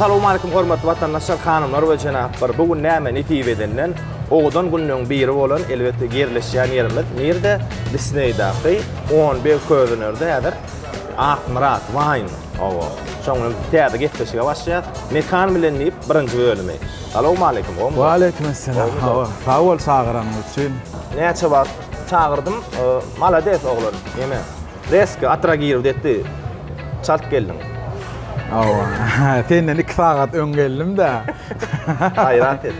Salowmaleýkim hormatly watandaşlar, hanymlar we jenaplar. Bu gün näme nesip edenden owadan günleň biri bolan elbetde ýerleşýän ýerimiz nirde? Disneýdaky on beg közenerde häzir Akmyrat Wine. Owo. Şoň bilen täze gepleşige başlaýas. Mekan bilen diýip birinji bölümi. Salowmaleýkim, gowymy? Waleýkimessalam, hawa, sag bol çagyranyň üçin. Näçe wagt çagyrdym, malades oglan, ýene reski atragirowdi etdi, çalt geldiň. Hawa, senden iki sagat öň geldim-dä. Gaýrat et.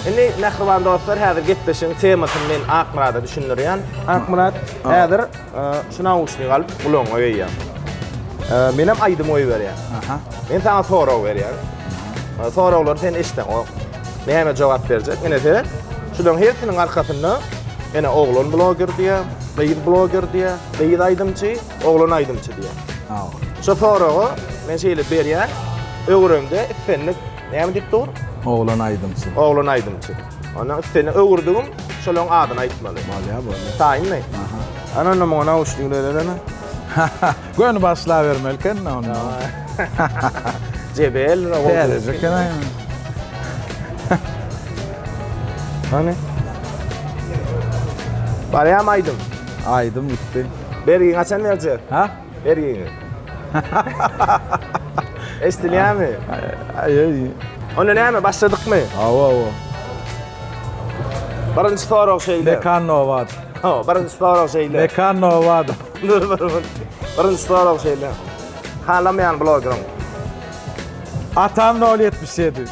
Indi mähriban dostlar, häzir gepleşigiň temasyny men Akmyrada düşündirýän. Akmyrat, häzir. Şu nauşnik alyp gulagyňa geýýäň. Menem aýdym goýberýän. Aha. Men sana sorag berýän. Soraglary sen eşitseň o näme jogap berjek? Ine seret. Şularyň hersiniň arkasynda ene oglan bloger diýä, gyz bloger diýä, gyz aýdymçy, oglan aýdymçy diýä. Ha. Şu soragy men şeýle berýän. Öwremde islendik näme diýip dur? Oglan aýdymçy. Oglan aýdymçy. Ondan üç sene öwürdigim şolaň adyny aýtmaly. Bolýa bolýa. Taýynmy? Aha. Ana onda muňa nauşnik berelermi? Göni başla bermeli eken onda. Jebel we gowy. Täzeje eken aýa. Hani? Barýam aýdym. Aýdym gitdi. Bergi haçan berjek? Ha? Bergiňi. Eşdilýärmi? Onda näme, başladykmy? Hawa, hawa. Birinji sorag şeýle. Mekan Nowadow. Hawa, birinji sorag şeýle. Mekan Nowadow. Birinji sorag şeýle. Halamaýan blogeriň. Atam 077.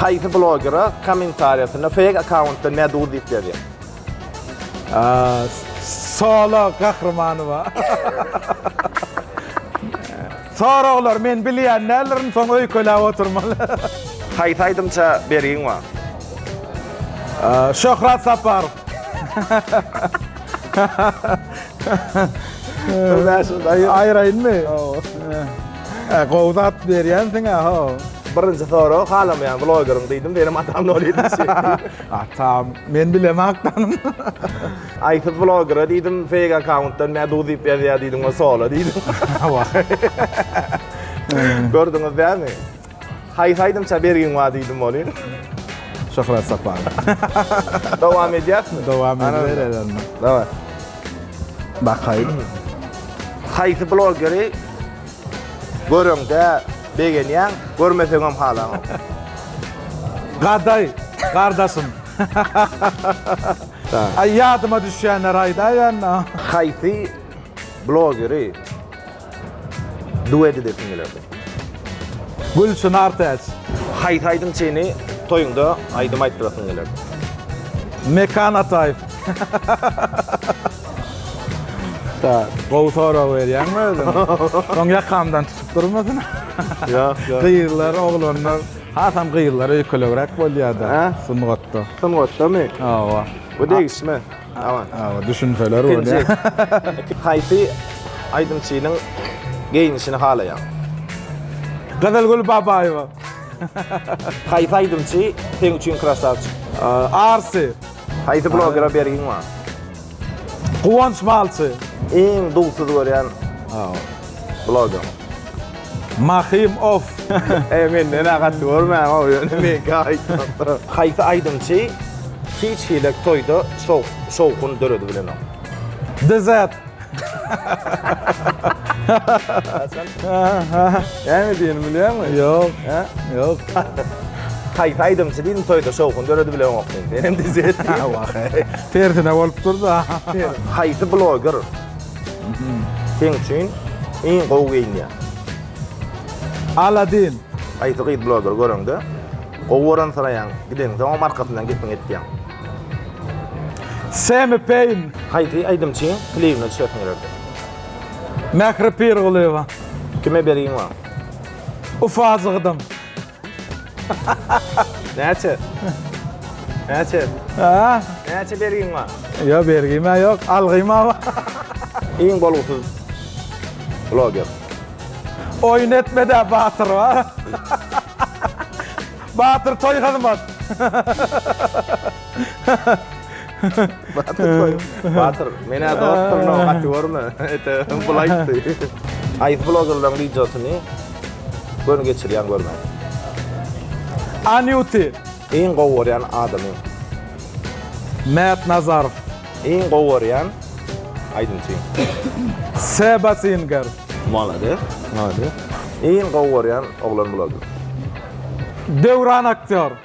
Haýsy blogera kommentariýasynda fake akkauntdan meduz diýip ýazýar? Solo gahrymanyba. Soraglar men bilýän däldirin, soň öýkeläp oturmaly. Haýsy aýdymça bergiň bar? Şöhrat Saparow. Aýraýynmy? Hawa. Gowy zat berýänsiň-ä, hawa. Birinji sorag halamaýan blogeriň diýdim, senem atam nol ýedinji. Atam, men bilemä akdanym. Aýsyz blogera diýdim, feýk akkauntdan Meduz diýip ýazýar diýdim, ol sola diýdim. Wah. Gördüňiz dälmi? Haýsy aýdymça bergiň bar diýdim welin. Şöhrat Saparow. Dowam edýäsmi? Dowam edibereris onda. Daway. Bakaýyn. Haýsy blogeri göreňde begenýäň, görmeseňem halanok? Gadaý, gardaşym. Aý ýadyma düşýänleri aýdaýanda. Haýsy blogeri Duet edesim gelerdi. Gülçynar Täç. Haýsy aýdymçyny toýuňda aýdym aýtdyrasyň gelerdi? Mekan Ataýew. Tak. Gowy sorag berýäňmi özüň? Soň ýakamdan tutup durmasyn. Ýok, ýok. Gyzlar, oglanlar, hasam gyzlar öýkelegräk bolýar-da sungatda. Sungatdamy? Hawa. Bu degişme. Awa, düşünseler bolýa. Ikinji, haýsy aýdymçynyň geýnişini halaýaň? Gyzylgül Babaýewa. Haýsy aýdymçy seň üçin krasawçik? Arsy. Haýsy blogera bergiň bar? Guwanç Malçy. Iň dugsuz görýän blogeriň? Mahym of. Eý menden agat görmäň ow ýöne meňkä aýtmapdyr. Haýsy aýdymçy hiç hili toýda şowhun döredi bilenok. Dezert. Näme diýeni bilýäňmi? Ýok. Hä? Ýok. Haýsy aýdymçy diýdim toýda şowhun döredi bilenok diýdim. Senem dezert diýiň. Tersine bolup durda. Haýsy bloger Seň üçin iň gowy geýinýän. Aladin. Haýsy gyz bloger göreňde gowy görensiraýaň, gideňde oňa markasyndan gepini etýäň. Semi Peýn. Haýsy aýdymçyň klibine düşesiň gelerdi? Mähri Pirgulyýewa. Kime bergiň bar? Ufazygydyň. Näçe? Näçe? Ha? Näçe bergin bar? Yo bergime yok, algyma var. Iň bolgusyz bloger. Oyun etme de Batyr var. Batyr toy hyzmat. Batyr, menä dostlaryna gaty görme. Ete, bul aýtdy. Aýs blogerlaryň wideosyny göni geçirýän görme. Anýuty. Iň gowy görýän adamyň. Mert Nazarow. Iň gowy görýän aýdymçyň. Seba Singer. Malades, malades. Iň gowy görýän oglan bloger. Döwran aktýor.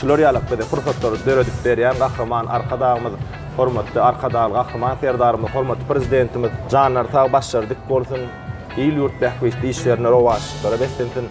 Şular ýaly bize pursatlary döredip berýän Gahryman Arkadagymyz, hormatly Arkadagly Gahryman Serdarymyz, hormatly Prezidentimiz janlary sag, başlary dik bolsun, il-ýurt bähbitli işlerinde rowaçlyklara beslensin!